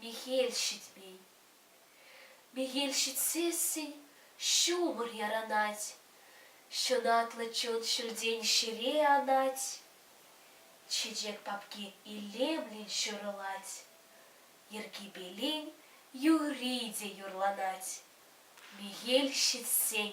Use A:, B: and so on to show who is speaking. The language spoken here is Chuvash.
A: Мехел ҫитмен. Мехел ҫитсессӗн ҫумӑр ярӑнать, ҫунатлӑ чун ҫӳлтен ҫӗре анать. Чечек папки илемлӗн ҫурӑлать, йӗркипелин юрри те юрланать мехел ҫитсен.